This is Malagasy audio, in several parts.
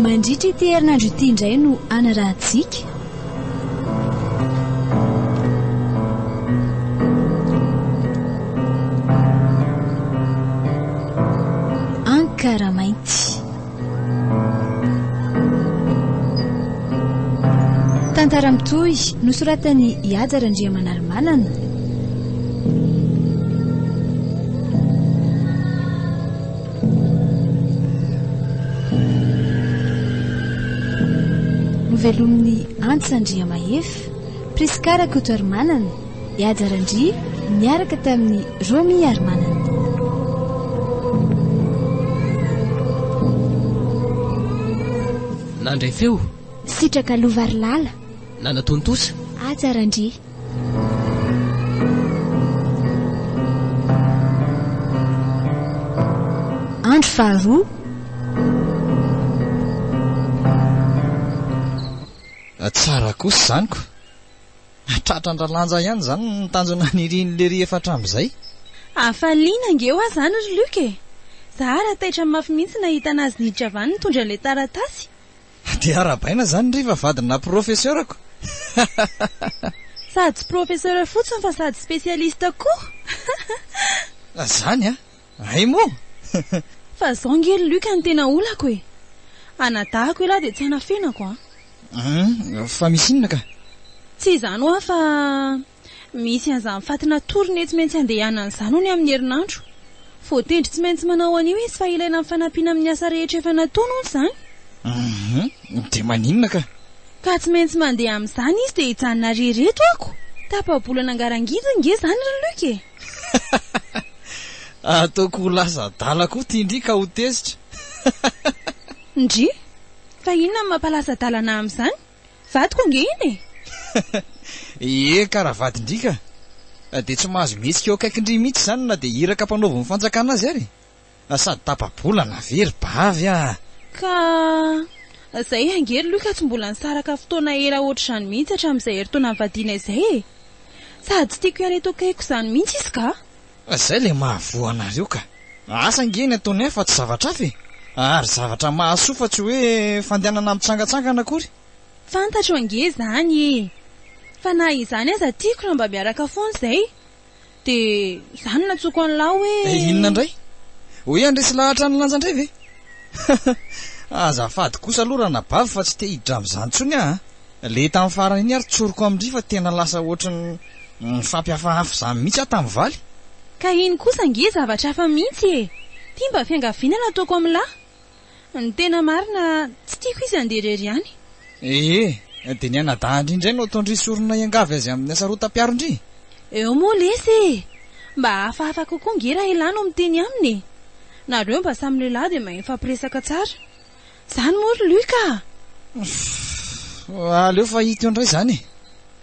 Mandritra ity herinandro ity indray no hanarahantsika Ankara mainty. Tantara mitohy nosoratan'i Ihaja Randriamanalomanana. Novelomin'i Antsa Andriamahefa, Prisca Rakotoarimanana. Ihaja Randria niaraka tamin'i Romy Harimanana. Nandray feo. Sitraka Lova ry Lala. Nanatontosa. Haja Randria. Andro faharoa. Tsara kosa izany ko. Tratra an-dRalanja ihany izany ny tanjona nirian'i Lery efa hatramin'izay. Hafaliana ange hoa izany ry Luc e! Za ary taitra mafy mihitsy nahita anazy nidravany nitondra ilay taratasy. Dia arahabaina izany ry fa vadina professeurako. Sady professeur fotsiny fa sady spécialiste koa. Zany an! Hay moa! Fa zao nge ry Luc no tena olako e! Anadahako elah dia tsy anafenako an! Hum, fa misy inona ka? Tsy izany hoa fa misy an'izany faty natory nety maintsy handehanana izany hono amin'ny herinandro. Voatendry tsy maintsy manao an'io izy fa ilaina amin'ny fanampiana amin'ny asa rehetra efa nataony hono izany. Hum, dia maninona ka? Ka tsy maintsy mandeha amin'izany izy dia hijanona re reto ako! Tapa-bolana angarangidiny nge izany ry Luc e! Ataoko ho lasa adala koa ty ndry ka ho tezitra. Ndry? Fa inona no mampalasa adala anah amin'izany? Vadiko ange iny e! Ee ka raha vadin-dry ka! Dia tsy mahazo mihetsika eo akaikin-dry mihitsy izany na dia iraka mpanaovin'ny fanjakana azy ary e! Na sady tapa-bola na very bavy ah! Ka zay ange ry Luka tsy mbola nisaraka fotoana ela ohatr'izany mihitsy hatramin'izay herintaona nivadiana izay e! Sady tsy tiako hiala eto akaikiko izany mihitsy izy ka! Fa zay le mahavoa anareo ka! Asa ange ny ataony ahy fa tsy zavatra hafa e! Ary zavatra mahasoa fa tsy hoe fandehanana mitsangantsangana akory! Fantatro ange izany e! Fa na izany aza tiako raha mba miaraka foana izay! Dia izany no nantsoiko an'lah hoe. Eh inona indray? Ho he handresy lahatra an'i Lanja indray ve? Hahh azafady kosa aloha ranabavy fa tsy te hiditra amin'izany intsony aho a! Le tamin'ny farany iny ary tsoriko amin-dry fa tena lasa ohatry ny nifampihafahafa izany mihitsy aho tamin'i Valy. Ka iny kosa ange zavatra hafa mihitsy e! Ity mba fiangaviana nataoko amin'lah. Ny tena marina, tsy tiako izy handeha irery ihany. Ee, dia ny anadahindry indray no ataondry sorona hiangavy azy amin'ny hasarotam-piarondry? Eo moa lesy e! Mba hafahafa kokoa ange raha ialahy no miteny aminy e! Nareo mba samy lehilahy dia mahay mifampiresaka tsara. Izany moa ry Luc a! Fff, aleo fa hita eo indray izany e!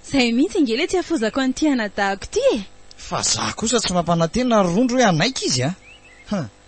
Izay mihitsy ange ilay tsy hafozako an'ity anadahako ity e! Fa izaho kosa tsy mampanantena ry Rondro hoe hanaiky izy a!